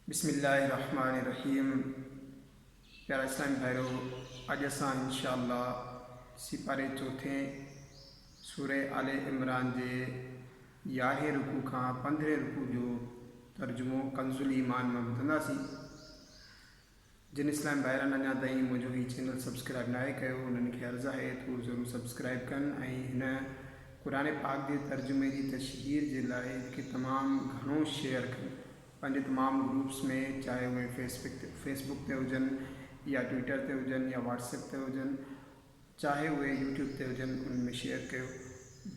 بسم الله الرحمٰن الرحيم پيارا اسلامي ڀائرو اڄ اسان انشاء الله سيپاري چوٿين سوره آل عمران جي يارهين رڪوع کان پندرهين رڪوع جو ترجمو ڪنز الایمان مان ٻڌنداسين جن اسلام ڀائرن اڃا تائين منهنجو هي چينل سبسڪرائب ناهي ڪيو انهن کي عرض آهي ته هو ضرور سبسڪرائب ڪن ۽ هن قرآن پاڪ جي ترجمي جي تشهير جي لاء کي تمام گهڻو شيئر ڪن پنهنجي تمام گروپس ۾ چاهي اهي فيس بڪ تي هجن يا ٽوئيٽر تي هجن يا واٽس ايپ تي هجن چاهي اهي يوٽيوب تي هجن انهن ۾ شيئر ڪيو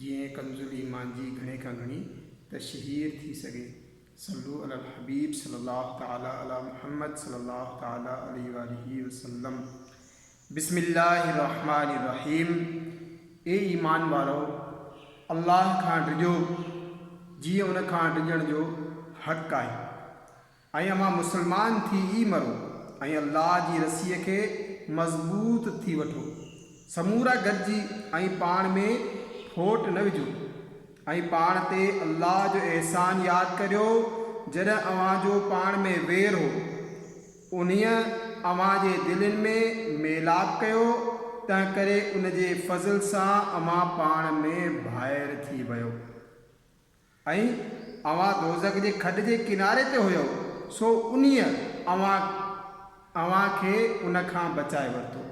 جيئن ڪنزالايمان جي گهڻي کان گهڻي تشهير ٿي سگهي. صلو علي الحبيب صلي الله تعالي علي محمد صلي الله تعالي عليه واٰله وسلم بسم الله الرحمٰن الرحيم اي ايمان وارؤ! الله کان ڊڄو جيئن ان کان ڊڄڻ جو حق آهي ۽ اوهان مسلمان ٿي ئي مرو ۽ الله جي رسيء کي مضبوط ٿي وٺو سمورا گڏجي ۽ پاڻ ۾ ڦوٽ نه وجهو ۽ پاڻ تي الله جو احسان ياد ڪريو جڏهن اوهان جو پاڻ ۾ وير هو، انهيء اوهان جي دلين ۾ ميلاپ ڪيو، تنهنڪري ان جي فضل سان اوهان پاڻ ۾ ڀائر ٿي ويئو. ۽ اوهان دوزخ جي کڏ جي ڪناري تي هيؤ، سو انهيء اوهان اوهان کي ان کان بچائي ورتو.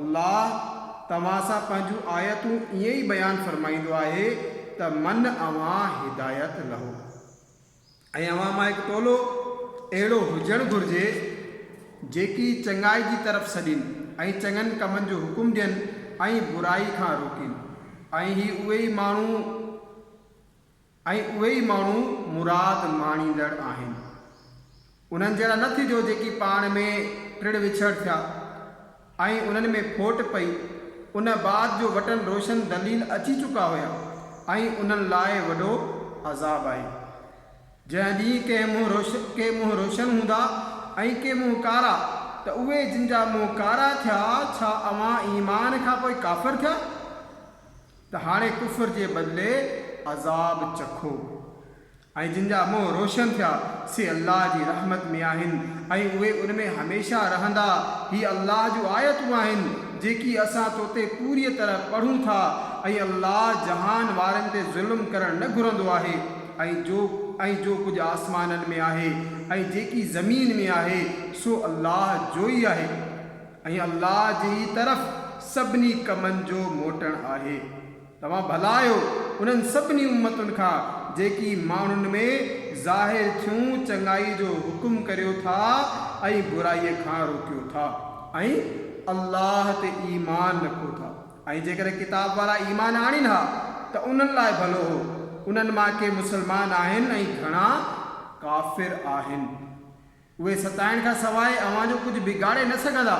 الله توهان سان پنهنجون آيتون ائين ئي بيان فرمائيندو آهي ته من اوهان هدايت لهو ۽ اوهان مان هڪ ٽولو اهڙو هجڻ گهرجي جيڪي چڱائي جي طرف سڏين ۽ چڱن ڪمن جو حڪم ڏين ۽ برائي کان روڪين ۽ هي اهي ئي ماڻهو ۽ اهي ئي ماڻهو مراد ماڻيندڙ آهن. انهن جهڙا نه ٿجو جيڪي پاڻ ۾ ٽڙ وڇڙ ٿيا ۽ انهن ۾ ڦوٽ پئي، ان بعد جو وٽن روشن دليل اچي چڪا هيا ۽ انهن لاء وڏو عذاب آهي. جنهن ڏينهن ڪنهن منهن ڪي منهن روشن هوندا ۽ ڪي منهن ڪارا ته اهي جن جا منهن ڪارا ٿيا ڇا اوهان ايمان کان پوء ڪافر ٿيا؟ ته هاڻي ڪفر جي بدلي عذاب چکو ۽ جن جا منهن روشن ٿيا سي الله جي رحمت ۾ آهن ۽ اهي ان ۾ هميشه رهندا. هي الله جون آيتون آهن جيڪي اسان تو تي پوريء طرح پڙهون ٿا ۽ الله جهان وارن تي ظلم ڪرڻ نه گهرندو آهي ۽ جو ۽ جو ڪجهه آسمانن ۾ آهي ۽ جيڪي زمين ۾ آهي سو الله جوئي آهي. ۽ الله جي ئي طرف سڀني ڪمن جو موٽڻ آهي. توهان ڀلا آهيو انهن سڀني امتن کان جيڪي ماڻهن ۾ ظاهر ٿيون چڱائي جو حڪم ڪريو ٿا ۽ برائيء کان روڪيو ٿا ۽ الله تي ايمان رکو ٿا ۽ جيڪڏهن ڪتاب وارا ايمان آڻين ها ته انهن لاء ڀلو هو. انهن مان ڪي مسلمان آهن ۽ گهڻا ڪافر آهن. اهي ستائڻ کان سواء اوهان جو ڪجهه بگاڙي نه سگهندا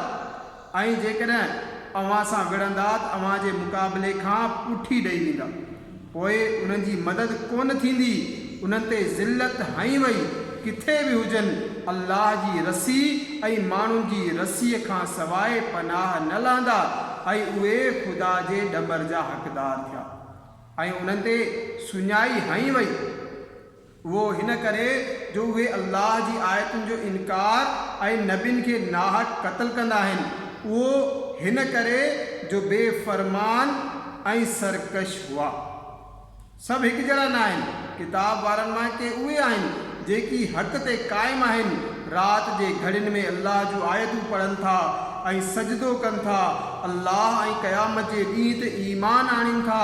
۽ جيڪڏهن اوهان سان وڙهندا ته اوهان جي مقابلي کان پٺي ڏئي ويندا پوء انهن جي مدد ڪونه ٿيندي انهن تي ذلت هنئي وئي ڪٿي به هجن الله جي رسي ۽ ماڻهن جي رسيء کان سواء پناهه نه لهندا ۽ اهي خدا جي ڏمر جا حقدار ٿيا ۽ انهن تي سڃائي هنئي وئي. اهو هن ڪري جو اهي الله جي آيتن جو انڪار ۽ نبين کي ناحق قتل ڪندا آهن. اهو هن ڪري جو بي فرمان ۽ سرڪش هئا. سڀ هڪجهڙا ناهن. ڪتاب وارن مان ڪي اهي آهن جيڪي حق تي قائم آهن. رات جي گهڙين ۾ الله جون آيتون پڙهن ٿا ۽ سجدو ڪن ٿا، الله ۽ قيامت جي ڏينهن تي ايمان آڻين ٿا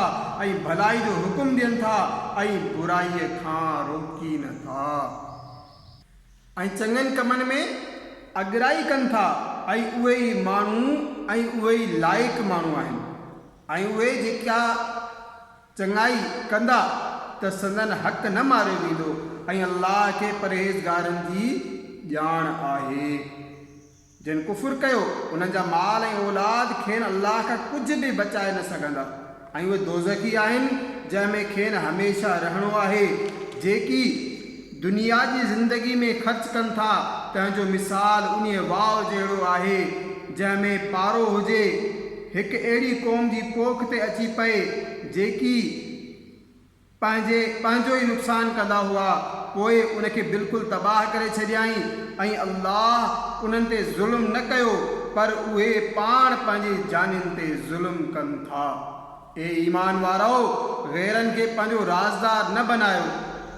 ۽ ڀلائي جو حڪم ڏين ٿا ۽ برائيء کان روڪين ٿا ۽ چڱن ڪمن ۾ اڳرائي ڪن ٿا ۽ اهي ئي ماڻهو ۽ اهي ئي لائق ماڻهو آهن ۽ اهي جيڪا چڱائي ڪندا ته سندن حق نه ماريو ويندو ۽ الله کي پرهيزگارن جي ڄاڻ آهي. جن ڪفر ڪيو انهن جا مال ۽ اولاد کين الله کان ڪجهه به بچائي نه سگهندا ۽ اهي دوزخي آهن جنهن ۾ کين هميشه رهڻو آهي، جيڪي، دنيا جي زندگي ۾ خرچ ڪن ٿا، تنهن جو مثال انهيء واء جهڙو آهي، جنهن ۾ پارو هجي، هڪ اهڙي قوم جي پوک تي اچي پئي، جيڪي پنهنجي پنهنجو ئي نقصان ڪندا هئا، پوء ان کي بلڪل تباهه ڪري ڇڏيائين، ۽ الله انهن تي ظلم نه ڪيو، پر اهي پاڻ پنهنجي جانين تي ظلم ڪن ٿا. اي ايمان وارؤ! غيرن کي پنهنجو رازدار نه بنايو.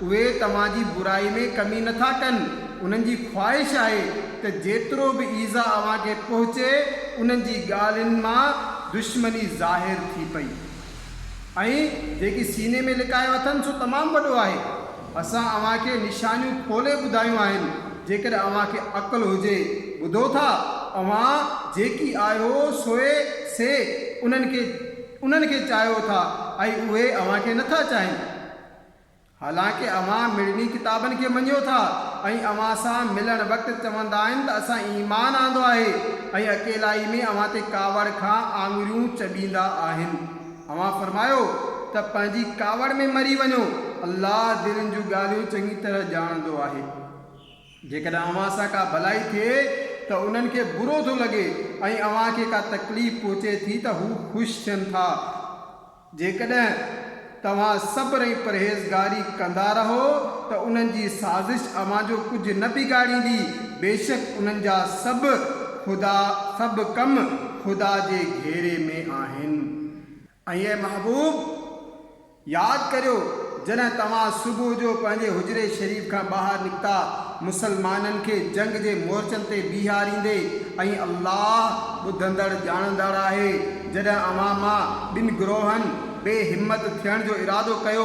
اهي توهان جي برائي ۾ ڪمي نه ٿا ڪن. انهن جي خواهش آهي ته جيترو به ايذاء اوهان کي پهچي، انهن جي ڳالهين مان دشمني ظاهر ٿي پئي. ۽ جيڪي سيني ۾ لڪايو اٿن سو تمام وڏو آهي. اسان اوهان کي نشانيون کولي ٻڌايون آهن، جيڪڏهن اوهان کي عقل هجي، ٻڌو ٿا؟ اوهان جيڪي آهيو سوئي سي انهن کي انهن کي چاهيو ٿا ۽ اهي اوهان کي نٿا چاهين. حالانڪه اوهان مڙني ڪتابن کي مڃيو ٿا ۽ اوهان سان ملڻ وقت چوندا آهن ته اسان ايمان آندو آهي ۽ اڪيلائي ۾ اوهان تي ڪاوڙ کان آڱريون چٻيندا آهن. اوهان فرمايو ته پنهنجي ڪاوڙ ۾ مري وڃو، الله دلين جون ڳالهيون چڱي طرح ڄاڻندو آهي. جيڪڏهن اوهان سان ڪا ڀلائي ٿئي ته انهن کي برو ٿو لڳي ۽ اوهان کي ڪا تڪليف پهچي ٿي ته هو خوش ٿين ٿا. جيڪڏهن توهان صبر ۽ پرهيزگاري ڪندا رهو ته انهن جي سازش اوهان جو ڪجهه نه بگاڙيندي، بيشڪ انهن جا سڀ، خدا، سڀ ڪم خدا جي گهيري ۾ آهن. ۽ اي محبوب! ياد ڪريو جڏهن توهان صبح جو پنهنجي حجري شريف کان ٻاهر نڪتا، مسلمانن کي جنگ جي مورچن تي بيهاريندي، ۽ الله ٻڌندڙ ڄاڻندڙ آهي، جڏهن اوهان مان ٻن گروهن، بي همت ٿيڻ جو ارادو ڪيو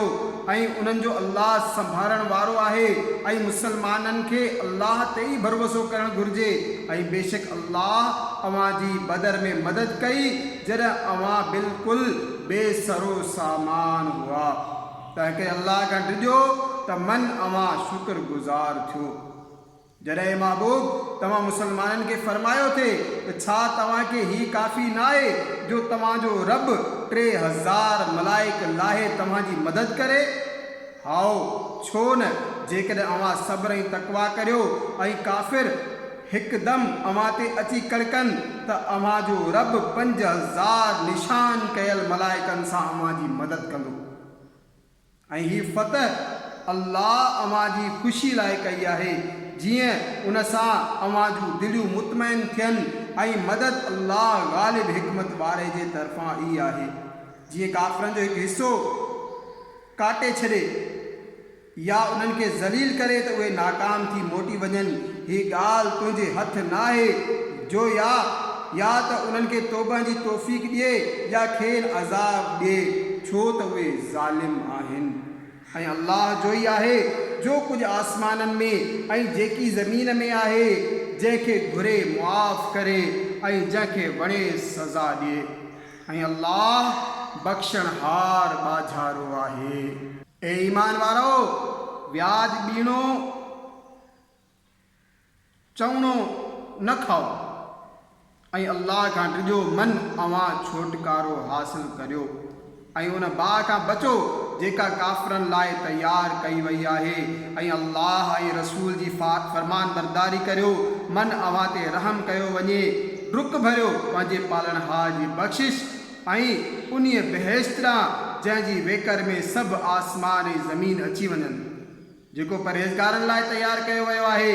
۽ انهن جو الله سنڀارڻ وارو آهي ۽ مسلمانن کي الله تي ئي ڀروسو ڪرڻ گهرجي ۽ بيشڪ الله اوهان جي بدر ۾ مدد ڪئي جڏهن اوهان بلڪل بي سرو سامان هئا تنهنڪري الله کان ڊڄو ته من اوهان شڪر گذار ٿيو. جڏهن اي محبوب! توهان مسلمانن کي فرمايو ٿي ته ڇا توهان کي هي ڪافي ناهي جو توهان جو رب ٽي هزار ملائڪ لاهي توهان جي مدد ڪري؟ هائو، ڇو نه، جيڪڏهن اوهان صبر ۽ تقويٰ ڪريو ۽ ڪافر هڪدم اوهان تي اچي ڪڙڪن ته اوهان جو رب پنج هزار نشان ڪيل ملائڪن سان اوهان جي مدد ڪندو. ۽ هي فتح الله اوهان جي خوشي لاء ڪئي آهي، جيئن ان سان اوهان جون دليون مطمئن ٿين ۽ مدد الله غالب حڪمت واري جي طرفان ئي آهي، جيئن ڪافرن جو هڪ حصو ڪاٽي ڇڏي يا انهن کي ذليل ڪري ته اهي ناڪام ٿي موٽي وڃن، هي ڳالهه تنهنجي هٿ ناهي، جو يا يا ته انهن کي توبه جي توفيق ڏئي يا کين عذاب ڏئي ڇو ته اهي ظالم آهن ۽ الله جو ئي آهي جو ڪجهه آسمانن ۾ ۽ جيڪي زمين ۾ آهي جنهن کي گهري معاف ڪري ۽ جنهن کي وڻي سزا ڏئي ۽ الله بخشڻهار ٻاجهارو آهي. اي ايمان وارؤ! وياج ٻيڻو. چوڻو نه کائو ۽ الله کان ڊڄو من اوهان ڇوٽڪارو حاصل ڪريو ۽ ان باهه کان بچو جيڪا ڪافرن لاء تيار ڪئي وئي آهي ۽ الله ۽ رسول جي فرمانبرداري ڪريو من اوهان تي رحم ڪيو وڃي ڊڪ ڀريو پنهنجي پالڻهار جي بخشش ۽ انهيء بهشت ڏانهن جنهن جي ويڪر ۾ سڀ آسمان ۽ زمين اچي وڃن. جيڪو پرهيزگارن لاء تيار ڪيو ويو آهي،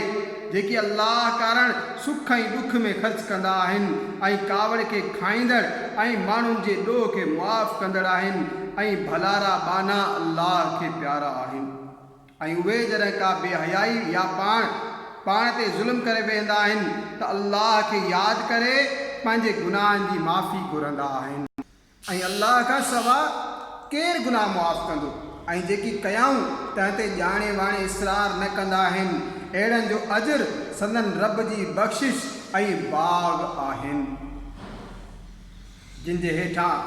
جيڪي الله ڪارڻ سک ۽ ڏک ۾ خرچ ڪندا آهن ۽ ڪاوڙ کي کائيندڙ ۽ ماڻهن جي ڏوهه کي معاف ڪندڙ آهن ۽ ڀلارا ٻانها الله کي پيارا آهن ۽ اهي جڏهن ڪا بي حيائي يا پاڻ پاڻ تي ظلم ڪري ويهندا آهن ته الله کي ياد ڪري پنهنجي گناهن جي معافي گهرندا آهن. ۽ الله کان سوا ڪير گناهه معاف ڪندو؟ ۽ جيڪي ڪيائون تنهن تي ڄاڻي واڻي اصرار نه ڪندا آهن، اهڙن جو اجر سندن رب جي بخشش ۽ باغ آهن، جن جي هيٺان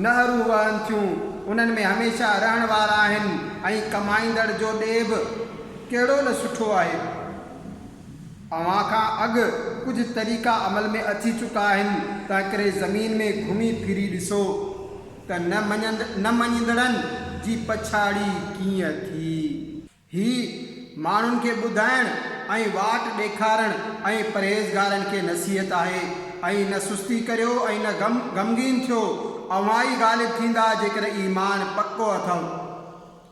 نهرون وهن ٿيون، انهن ۾ هميشه رهڻ وارا آهن، ۽ ڪمائيندڙ جو ڏيهه به ڪهڙو نه سٺو آهي. اوهان کان اڳ ڪجهه طريقا عمل ۾ اچي چڪا آهن، تنهنڪري زمين ۾ گهمي ڦري ڏسو ته نه مڃيندڙن جي پڇاڙي ڪيئن ٿي. هي ماڻهن کي ٻڌائڻ ۽ واٽ ڏيکارڻ ۽ پرهيزگارن کي نصيحت آهي ۽ نه سستي ڪريو ۽ نه غمگين ٿيو، اوهان ئي غالب ٿيندا جيڪڏهن ايمان پڪو اٿئو.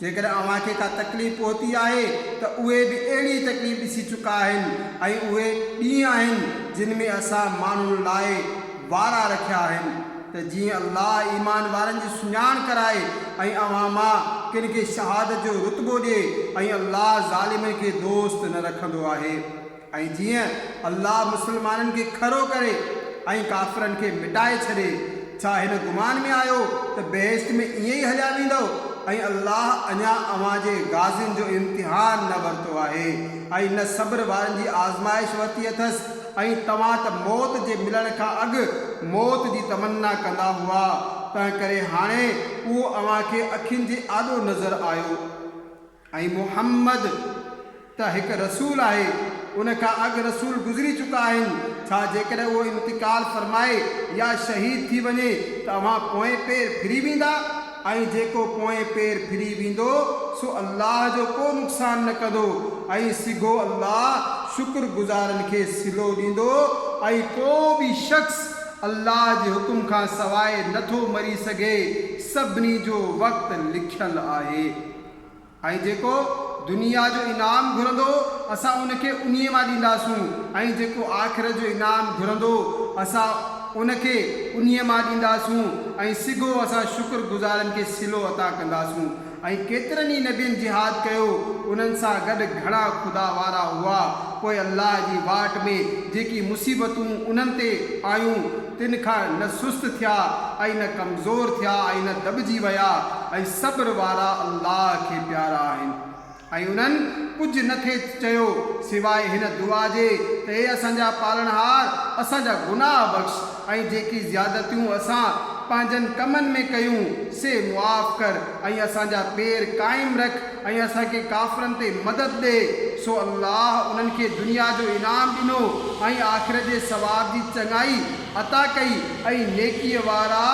جيڪڏهن اوهان کي ڪا تڪليف پهتي آهي ته اهي به اهڙي تڪليف ڏسي چڪا آهن ۽ اهي ڏينهن آهن جن ۾ اسان ماڻهن لاء وارا رکيا آهن ته جيئن الله ايمان وارن جي سڃاڻ ڪرائي ۽ اوهان مان ڪن کي شهادت جو رتبو ڏي ۽ الله ظالمن کي دوست نه رکندو آهي. ۽ جيئن الله مسلمانن کي کڙو ڪري ۽ ڪافرن کي مٽائي ڇڏي، ڇا هن گمان ۾ آهيو ته بهشت ۾ ائين ئي هليا ويندؤ ۽ الله اڃا اوهان جي غازين جو امتحان نه ورتو آهي ۽ نه صبر وارن جي آزمائش ورتي اٿس ۽ توهان ته موت جي ملڻ کان اڳ موت جي تمنا ڪندا هئا تنهنڪري هاڻي اهو اوهان کي اکين جي آڏو نظر آيو. ۽ محمد ته هڪ رسول آهي، ان کان اڳ رسول گذري چڪا آهن، ڇا جيڪڏهن اهو انتقال فرمائي يا شهيد ٿي وڃي ته اوهان پوئين پير ڦري ويندا؟ ۽ جيڪو پوئين پير ڦري ويندو سو الله جو ڪو نقصان نه ڪندو ۽ سگهو الله شڪر گذارن کي صلو ڏيندو ۽ ڪو به شخص الله جي حڪم کان سواء نه ٿو مري سگهي، سڀني جو وقت لکيل آهي. ۽ جيڪو دنيا جو انعام گهرندو اسان ان کي انهي مان ڏينداسون ۽ جيڪو آخرت جو انعام گهرندو اسان ان کي انهي مان ڏينداسون ۽ سگهو اسان شڪر گذارن کي صلو عطا ڪنداسون ۽ ڪيترن ئي نبين جهاد ڪيو انهن سان گڏ گهڻا خدا وارا هئا پوء الله جي واٽ ۾ جيڪي مصيبتون انهن تي آيون تن کان نه سست ٿيا ۽ نه ڪمزور ٿيا ۽ نه دٻجي ويا ۽ صبر وارا الله کي پيارا آهن ۽ انهن ڪجهه نه کي چيو سواء هن دعا جي ته اي اسان جا پالڻهار اسان جا گناهه بخش ۽ جيڪي زيادتيون اسان پنهنجن ڪمن ۾ ڪيون سي معاف ڪر ۽ اسان جا پير قائم رک ۽ اسان کي ڪافرن تي مدد ڏي، سو الله انهن کي دنيا جو انعام ڏنو ۽ آخرت جي ثواب جي چڱائي عطا ڪئي ۽ نيڪيء وارا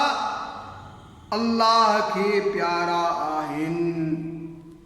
الله کي پيارا آهن.